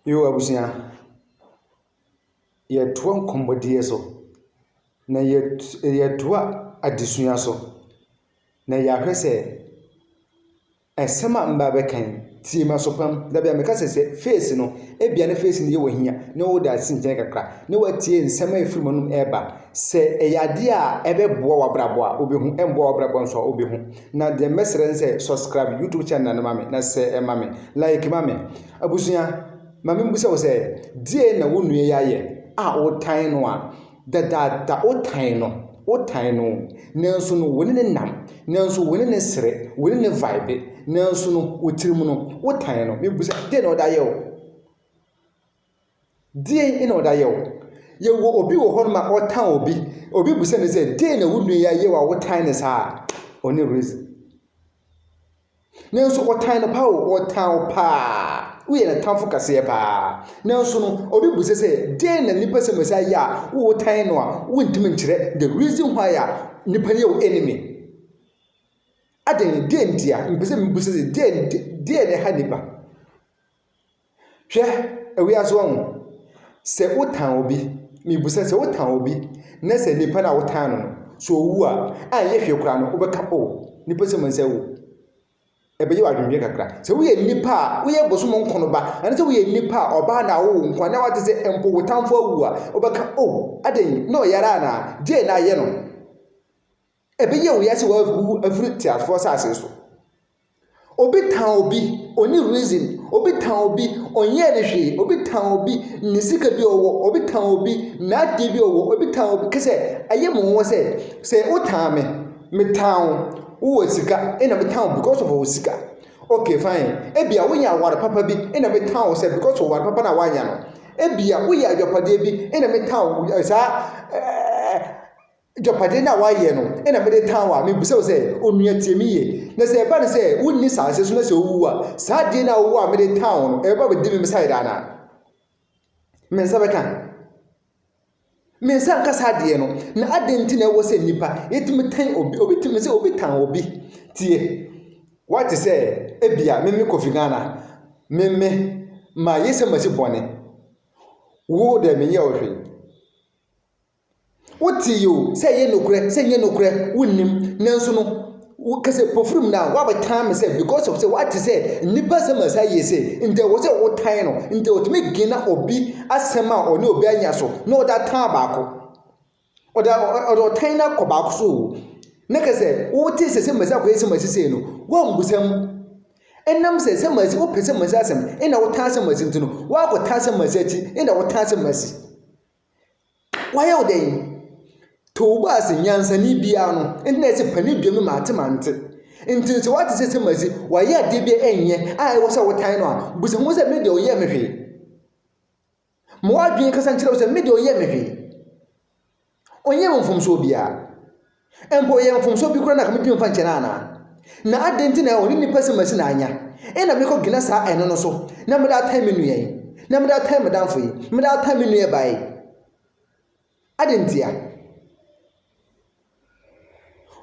Yo abusua, yɛtoa nkɔmmɔdie so, na yɛt yɛtoa adesua so, na yɛahwɛ sɛ asɛm a mɛba abɛka yi, tie m'aso pa mu. Da bi a meka sɛ sɛ feesi no, ebia ne feesi no yɛ wo ahia na wode asi nkyɛn kakra na watie nsɛm a ɛfiri m'anom reba. Sɛ ɛyɛ adeɛ a ɛbɛboa w'abrabɔ a, wobɛhu, ɛmmoa w'abrabɔ nso a, wobɛhu. Na deɛ mɛsrɛ ne sɛ subscribe YouTube channel no ma me na sɛ ɛma me like ma me. Abusua, ma me mbusa wo sɛ deɛ na wo nua yi ayɛ a wotan no a dadaada wotan no wotan no nanso no wo ne ne nam nanso wo ne ne sere wo ne ne vibe nanso no wo tirim no wotan no. Mebusa deɛ na ɔde ayɛ wo? Deɛn na ɔde ayɛ wo? Yɛwɔ obi wɔ hɔnom a ɔtan obi. Obi bisa ne sɛ, deɛn na wo nua yi ayɛ wo a wotan ne saa? Ɔne reason. Nanso ɔtan no pa o, ɔtan wo paa. Woyɛ ne tamfo kaseɛ paa. Nanso no, obi bisa sɛ, deɛn na nipa sɛmasi ayɛ a wotan no a wontumi nkyerɛ the reason why a nipa no yɛ wo enemy? Adɛn, deɛn ntia? Mepɛ sɛ mebisa sɛ, deɛn, deɛn na ɛha nipa? Hwɛ, ewiase wɔ ho. Sɛ wotan obi, mibisa, sɛ wotan obi na sɛ nipa no a wotan no no, sɛ owu a, a ɛnyɛ hwee koraa no, wobɛka, o, nipa sɛ mansa awu. Ɛbɛyɛ w'adwendwen kakra. Sɛ woyɛ nipa a woyɛ bosom nko no ba, anaasɛ woyɛ nipa a ɔbaa na awo wo nko a, na wate sɛ mpo wo tamfo awu a, wobɛka, o, adɛn, na ɔyare anaa? Deɛn na ayɛ no? Ɛbɛyɛ wo ya sɛ wawu afiri teasefoɔ asase so. Obi tan obi, ɔni reason. Obi tan obi, ɔnyɛɛ ne hwee. Obi tan obi, ne sika bi ɔwɔ. Obi tan obi, n'adeɛ bi ɔwɔ. Obi tan obi, kɛ sɛ ɛyɛ mo nwa sɛ, sɛ wo tan me, me tan wo, wo wɔ sika, ɛna me tan wo because of wo sika. Okay fine, ebia wonya aware papa bi, ɛna me tan wo sɛ because of aware papa na wanya no. Ebia woyɛ adwapadeɛ bi, ɛna me tan wo, saa, Agyapadeɛ no a woayɛ no na mede tan wo a, mebisa wo sɛ, onua tie me yie, na sɛ ɛba no sɛ wonni saase so na sɛ wowu a, saa adeɛ no a wowɔ a mede tan wo no, ɛbɛba abɛdi me me side anaa? Me nsa bɛka? Me nsa nka saa adeɛ no, na adɛn nti na ɛwɔ sɛ nnipa yɛtumi tan obi, obi tumi sɛ obi tan obi tie. Wate sɛ ebia me me Kofi Ghana, me me ma yɛsɛ masi bɔne, wo dɛ menyɛ wo hwee. Wotee oo, sɛ ɛyɛ nokorɛ, sɛ ɛnyɛ nokorɛ, wonnim. Nanso no, woka sɛ pofiri mu no a, woabɛtan me sɛ because of sɛ woate sɛ nnipa asɛm a saa yie sei, nti ɛwɔ sɛ wotan no. Nti ɔtumi gina obi asɛm a ɔne obi anya so na ɔde atan baako. Ɔde ɔde ɔtan no akɔ baako so oo, na ka sɛ wotee sɛ sɛmasi akɔyɛ sɛmasi sei no, woammu sɛm. Ɛnam sɛ sɛmasi, wopɛ sɛmasi asɛm, ɛnna wotan sɛmasi nti no, woakɔtan sɛmasi akyi, ɛnna wotan sɛmasi. Wayɛ wo dɛn? Too bɔ ase, nyansani biara no, nti na ɛsɛ panin dua mu mante mante. Nti sɛ wate sɛ sɛ masi, wayɛ adeɛ bi ɛnyɛ a ɛwɔ sɛ wotan no a, bisa ho sɛ me deɛ ɔyɛɛ me hwee. Ma w'adwene kasa nkyerɛ wo sɛ me deɛ ɔyɛɛ me hwee. Ɔnyɛɛ me mfomsoɔ biara. Mpo ɔyɛ mfomsoɔ bi koraa na anka mentumi mfa nkyɛ no anaa? Na adɛn nti na ɔne nnipa si masi na anya? Ɛnna mekɔ gyina saa ɛno no so, na mede atan me nua yi, na mede atan me damfo yi, mede atan me nua baa yi. Adɛn ntia?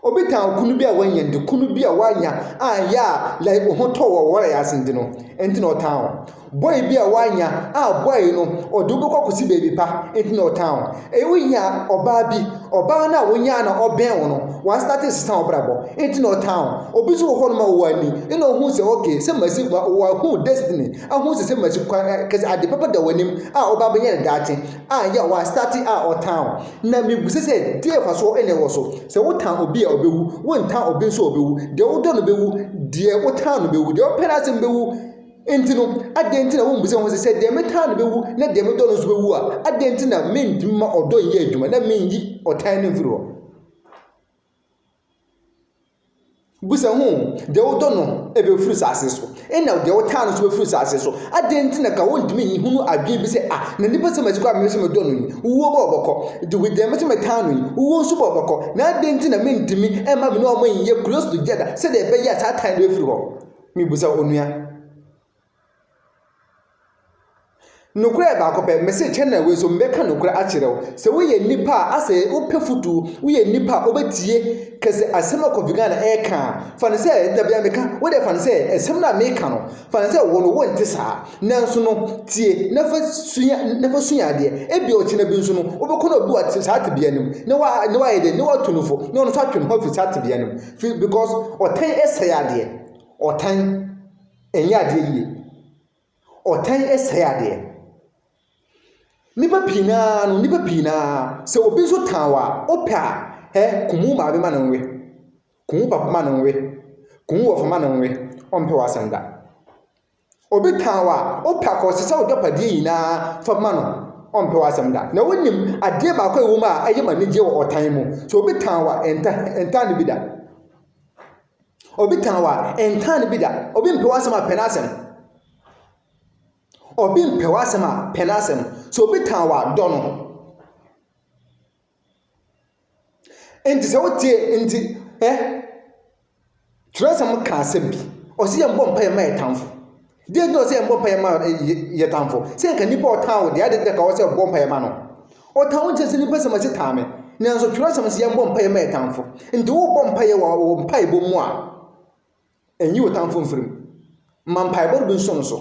Obi tan okunu bi a wanya nti, kunu bi a wanya anyɛ a like ho tɔ wɔ wɔrɛ ase nti no, ɛnti na ɔtan o. Boy bi a wanya a boy no ɔde wo bɛkɔ akɔsi baabi pa nti na ɔtan wo. Ɛyɛ wonya ɔbaa bi, ɔbaa no a wonyaa na ɔbɛn wo no, wastate resesa wo brabɔ nti na ɔtan wo. Obi nso wɔ hɔ nom a ɔwɔ ani na ɔhu sɛ okay sɛ masi wahu destiny ahu sɛ sɛ masi kwan kɛse ade papa da w'anim a ɔba bɛyɛ no daakye a yɛ wastate a ɔtan wo. Na mebisa sɛ deɛ ɛfasoɔ ɛna ɛwɔ so sɛ wotan obi a ɔbɛwu wontan obi nso a ɔbɛwu deɛ wodɔ no bɛwu deɛ wotan no bɛwu deɛ ɔpɛ n'asɛm bɛwu Enti no, adɛn nti na wommisa ho sɛ, sɛ deɛ metaa no bɛwu na deɛ medɔ no nso bɛwu a, adɛn nti na mentumi ma ɔdɔ nyɛ adwuma na menyi ɔtan no mfiri hɔ? Bisa ho, deɛ wodɔ no bɛfiri saase so, ɛna deɛ wotaa no nso bɛfiri saase so. Adɛn nti na ka wontumi nyi hunu adwene bi sɛ, ah, na nipa sɛ masi kɔ a mese medɔ no yi, wuo bɔ ɔbɔkɔ. De deɛ mese metaa no yi, wuo nso bɔ ɔbɔkɔ. Na adɛn nti na mentumi mma me ne wɔn nyɛ Kristo gya da sɛdeɛ ɛbɛyɛ a saa tan no bɛfiri hɔ? Mebisa onua. Nokorɛ yɛ baako pɛ. Mese kyɛ na wei nso mebɛka nokorɛ akyerɛ wo. Sɛ woyɛ nnipa a asɛ wopɛ futuo, woyɛ nnipa a wobɛtie kɛ sɛ asɛm a Kofi Ghana reka a, fa no sɛ, da biara meka, wo deɛ fa no sɛ asɛm no a meka no, fa no sɛ wo no wonte saa. Nanso no, tie na fa sua, na fa sua adeɛ. Ebia ɔkyena bi nso no, wobɛkɔ na obi wɔ saa tebea no mu, na wa, na wayɛ dɛn, na watu no fo, na ɔno nso atwe ne ho afiri saa tebea no mu. Firi because ɔtan sɛe adeɛ. Ɔtan ɛnyɛ adeɛ yie. Ɔtan sɛe adeɛ. Nnipa pii naa no, nnipa pii naa sɛ obi nso tan wɔ a, wopɛ a, ɛ kumu maame ma no nwe. Kumu papa ma no nwe. Kumu wɔfa ma no nwe. Ɔmpɛ w'asɛm da. Obi tan wo a, wopɛ a ka ɔsesa w'agyapadeɛ nyinaa fa ma no, ɔmpɛ w'asɛm da. Na wonim adeɛ baako a ɛwɔ mu a ɛyɛ ma anigyeɛ wɔ ɔtan mu. So obi tan wo a, ɛnta, ɛntaa no bi da. Obi tan wo a, ɛntaa no bi da. Obi mpɛ w'asɛm a, pɛ n'asɛm. Obi mpɛ w'asɛm a, pɛ n'asɛm. So obi tan wo a, dɔ no. Enti sɛ wotie nti ɛ twerɛsɛm ka asɛm bi ɔsi yɛn bɔ mpaeɛ ma yɛ tamfo deɛ nti ɔsi yɛn bɔ mpaeɛ ma yɛ tamfo sɛ nka nipa ɔtan wo deɛ adi dɛ ka ɔsɛ bɔ mpaeɛ ma no ɔtan wo nkyɛn sɛ nipa sɛm ɛsi tan me nanso twerɛsɛm si yɛn bɔ mpaeɛ ma yɛ tamfo nti wo bɔ mpaeɛ wɔ mpaebɔ mu a. Nyi wo tamfo mfiri mu. Ma mpaebɔ no bi nso no so.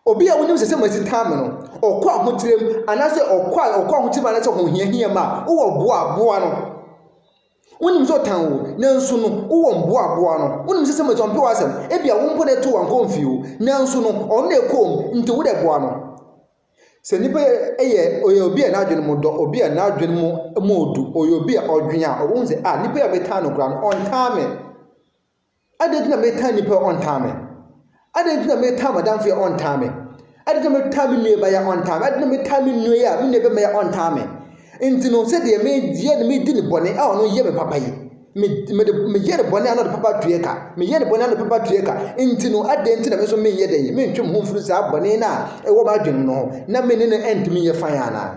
Obi a wonim sɛ sɛ masi taa me no, ɔkɔ ahokyerɛ mu anaasɛ ɔkɔ a ɔkɔ ahokyerɛ mu anaasɛ ɔhohiahia mu a, wowɔ boa boa no. Wonim sɛ ɔtan wo, nanso no wowɔ mboa boa no. Wonim sɛ sɛ masi ɔmpɛ w'asɛm, ebia wo mpo na ɛto wankɔ mfie o, nanso no ɔno na ɛkɔɔ mu, nti wo dɛ boa no. Sɛ nipa yɛ yɛ ɔyɛ obi a n'adwene mu dɔ, obi a n'adwene mu mu du, ɔyɛ obi a ɔdwen a, ɔbɛhu sɛ a nipa a metaa no koraa no, ɔntaa me. Adɛn nti na metaa nipa a ɔntaa me? Adɛn nti na metaa m'adamfo yi a ɔntaa me? Adɛn nti na metaa me nuabaa yi a ɔntaa me? Adɛn nti na metaa me nua yi a me nuabɛma yi a ɔntaa me? Nti no, sɛdeɛ meyɛ na medi no bɔne a ɔno yɛ me papa yi, Me mede meyɛ no bɔne a na ɔde papa tuɛ ka meyɛ no bɔne a na papa tuɛ ka nti no adɛn nti na me nso menyɛ dɛn mentwe me ho mfiri saa bɔne no a ɛwɔ m'adwene no ho na me ne no ɛntumi nyɛ fan anaa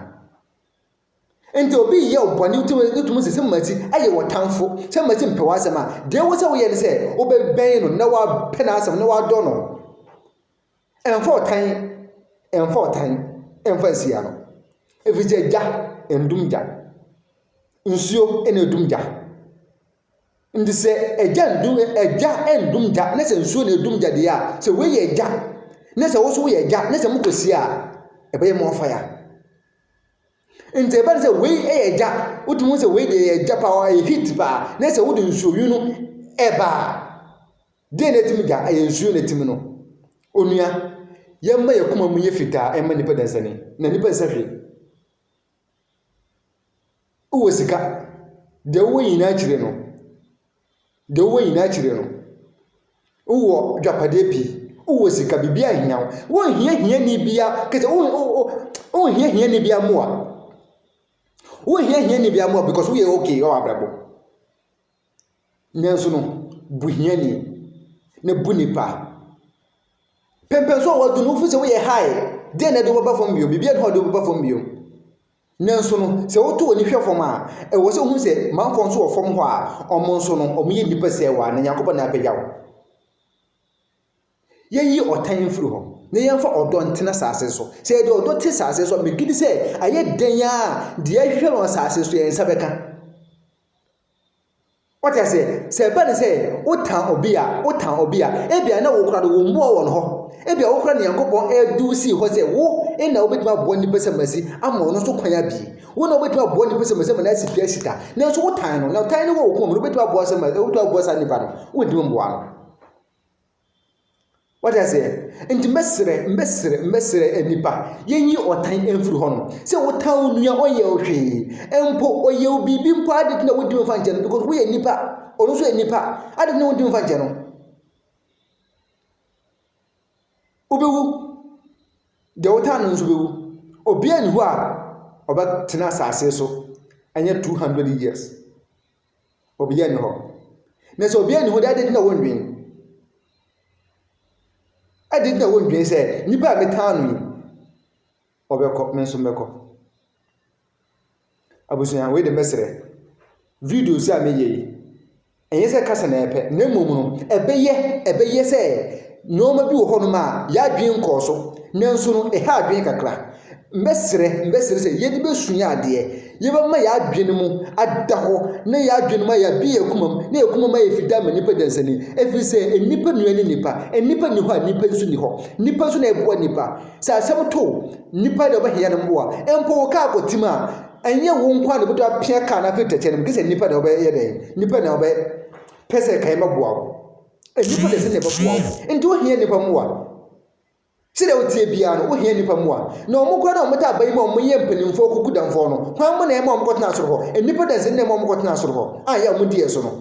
nti obi yɛ ɔbɔne wotumi sɛ sɛ masi ayɛ wɔ tamfo sɛ masi mpɛ w'asɛm a deɛ wo sɛ woyɛ no sɛ wobɛbɛn no na wapɛ n'asɛm na wadɔ no Ɛmfa ɔtan, ɛmfa ɔtan ɛmfa nsia no, ɛfiri sɛ gya ndum gya, nsuo na ɛdum gya. Nti sɛ ɛgya ndum ɛgya ndum gya ne sɛ nsuo na ɛdum gya deɛ a, sɛ wei yɛ gya ne sɛ wo nso woyɛ gya ne sɛ mokɔsie a, ɛbɛyɛ more fire. Nti ɛba ne sɛ wei yɛ gya, wotumi hu sɛ wei deɛ ɛyɛ gya paa, ɛyɛ heat paa ne sɛ wode nsuo nwunu ɛba a. Deɛ na ɛtim gya ɛyɛ nsuo na ɛtim no. Onua, yɛmma yɛn akoma mu nyɛ fitaa mma nnipa dansani. Na nnipa nsɛ hwee. Wowɔ sika, deɛ wowɔ nyinaa akyire no, deɛ wowɔ nyinaa akyire no, wowɔ dwapadeɛ pii, wowɔ sika, biribi ahia wo. Wonhia hiani bia, kɛsɛ wonhia hiani bia mmoa. Wonhia hiani bia mmoa because woyɛ okay wɔ abrabɔ. Nanso no, bu hiani, na bu nnipa. Pɛmpɛ so a wɔadu no, wofi sɛ woyɛ high. Deɛ na ɛde wo bɛba fam bio? Biribiara nni hɔ a ɛde wo bɛba fam bio. Nanso no, sɛ woto w'ani hwɛ fam a, ɛwɔ sɛ wohu sɛ manfoɔ nso wɔ fam hɔ a wɔn nso no, wɔyɛ nnipa sɛɛwa, na Nyankopɔn na apagya wo. Yɛnyi ɔtan mfiri hɔ, na yɛmfa ɔdɔ ntena asase so. Sɛ yɛde ɔdɔ te asase so a, megye di sɛ ayɛ dɛn ara a, deɛ ɛhwehwɛ wɔ asase so yɛn nsa bɛka. Wote aseɛ? Sɛ ɛba ne sɛ wotan obi a, wotan obi a, ebia na wokora no wo mmoa wɔn hɔ. Ebia wokora Nyankopɔn ɛdu sii hɔ sɛ wo na wobɛtumi aboa nipa sɛ masi ama ɔno nso kwan abie. Wo na wobɛtumi aboa nipa sɛ masi ma no asi dua asi ta. Nanso wotan no, na tan no wɔ wo kɔn mu no, wobɛtumi aboa sɛ ma wobɛtumi aboa saa nipa no, wontumi mmoa no. Wate aseɛ? Nti mɛsrɛ mɛsrɛ mɛsrɛ nnipa yɛnyi ɔtan mfiri hɔ nom. Sɛ wotan wo nua ɔnyɛ wo hwee. Mpo ɔyɛ wo biribi mpo a ade nti na wontumi mfa nkyɛ no because woyɛ nipa. Ɔno nso yɛ nipa. Ade nti na wontumi mfa nkyɛ no. Wobɛwu. Deɛ wotan no nso bɛwu. Obiara nni hɔ a ɔbɛtena asase so ɛnyɛ two hundred years. Obiara nni hɔ. Na sɛ obiara nni hɔ de, adɛn nti na wondwen? Adɛn nti na wondwen sɛ nipa a metaa no yi, ɔbɛkɔ, me nso mɛkɔ? Abusua, wei de mɛsrɛ, videos a meyɛ yi, ɛnyɛ sɛ kasa na ɛpɛ, na mmom no, ɛbɛyɛ, ɛbɛyɛ sɛ Nnoɔma bi wɔ hɔ nom a yadwen nkɔɔ so, nanso no ɛha adwene kakra. Mɛsrɛ, mɛsrɛ sɛ yɛde bɛsua adeɛ, yɛbɛma yɛn adwene mu ada hɔ, na yɛn adwene mu ayɛ abe yɛn akoma mu, na yɛn akoma mu ayɛ fitaa ama nnipa dansani. Ɛfiri sɛ nnipa nua ne nnipa, nnipa nni hɔ a nnipa nso nni hɔ. Nnipa nso na ɛboa nnipa. Sɛ asɛm to nnipa na ɔbɛhia no mmoa. Mpo wo kaa kɔtim a, ɛnyɛ wo nko a na ɛbɛtɔ apia kaa no afiri tɛkyɛ no mu, gye sɛ nnipa na ɔbɛyɛ dɛn, nnipa na ɔbɛpɛ sɛ kae mɛboa wo. Nnipa na ɛsɛ sɛ yɛbɛboa wɔn. Nti wohia nnipa mmoa. Sɛdeɛ woteɛ biara no, wohia nnipa mmoa. Na wɔn koraa na wɔtaa ba yi ma wɔyɛ mpanimfoɔ kuku damfoɔ no. Hwan mo na ɛma wɔn kɔtena soro hɔ? Nnipa da nsɛn na ɛma wɔn kɔtena soro hɔ. A yɛ a wɔn di yɛ so no.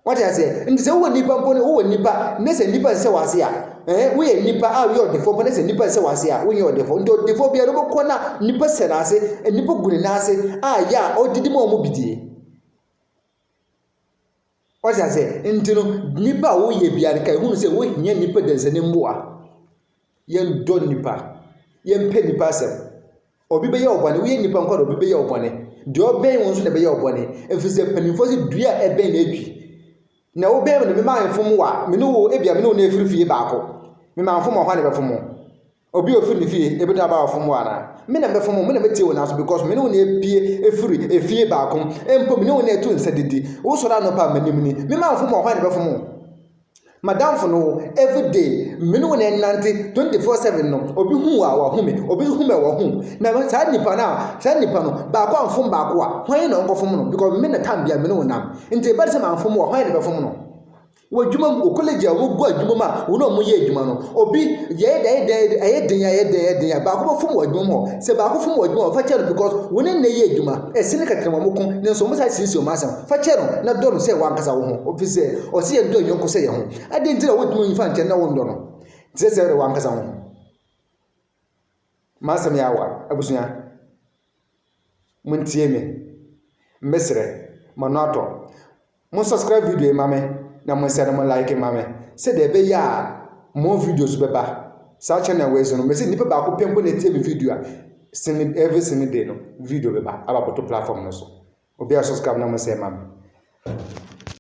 Wate aseɛ? Nti sɛ wowɔ nnipa mpo no, wowɔ nnipa na sɛ nnipa nsɛ wɔ ase a, ɛɛ woyɛ nnipa a woyɛ ɔdefoɔ mpo na sɛ nnipa nsɛ wɔ ase a, wonyɛ ɔdefoɔ. Nti ɔdefoɔ biara wobɛkɔ na nnipa sɛ n'ase, nnipa gu ne nan ase a yɛ a ɔdidi ma wɔn bidie. Wate ase? Nti no, nnipa a woyɛ biara no, ka ehunu sɛ wohia nnipa dansanim mmoa. Yɛndɔ nnipa. Yɛmpɛ nnipa asɛm. Obi bɛyɛ ɔbɔne, woyɛ nnipa nkwa na obi bɛyɛ ɔbɔne. Deɛ ɔbɛn wo nso na ɛbɛyɛ ɔbɔne. Ɛfiri sɛ mpanimfoɔ sɛ dua a ɛbɛn na ɛtwi. Na wobɛn me no, me maa mfom wo a, me ne wo, ebia me ne wo na ɛfiri fie baako. Me maa mfom ɔhɔ a na ɛbɛfom wo. Obi a ɔfiri ne fie bɛtumi aba wo fam wo anaa? Me na mɛfam wo, me na mɛtie wo n'aso because me ne wo na ɛpue ɛfiri efie baako mu. Mpo me ne wo na ɛtu nsa didi. Wo sɔre anɔpa a m'anim ni. Me ma mfam wo a hwan na ɛbɛfam wo? M'adamfo no wo, everyday me ne wo na ɛnante 24/7 no, obi hu wo a wahu me, obi nso hu me a wahu wo. Na saa nipa no a, saa nipa no, baako amfam baako a, hwan na ɔnkɔfam no? Because me na time biara me ne wo nam. Nti ɛba no sɛ mamfam wo a, hwan na ɛbɛfam no? Wɔ adwuma mu, wɔ college a wɔgu adwuma mu a wɔn a wɔyɛ adwuma no, obi yɛyɛ dɛn dɛn dɛn ɛyɛ den ɛyɛ den ɛyɛ den a baako bɛfom wɔ adwuma mu hɔ. Sɛ baako fom wɔ adwuma hɔ, fa kyɛ no because wo ne nnɛ yɛ adwuma. Ɛse ne kɛkɛ na wɔn ko, nanso wɔn saa siesie wɔn asɛm. Fa kyɛ no na dɔ no sɛ w'ankasa wo ho. Ɛfiri sɛ ɔse yɛn dɔ yɛn yɔnko sɛ yɛn ho. Adɛn nti na wontumi mfa nkyɛ no na wonnɔ no te sɛ sɛ ɛyɛ w'ankasa wo ho? M'asɛm yɛ awa, abusua. Montie me, mesrɛ. M'ano atɔ. Mo subscribe video yi ma me na mo nsa no mo like ma me sɛdeɛ ɛbɛyɛ a more videos bɛba saa channel wei so no. Mese nipa baako pɛ mpo na etie me video a sini every sini day no video bɛba aba abɛto platform no so. Obiara subscribe na mo nsa ma me.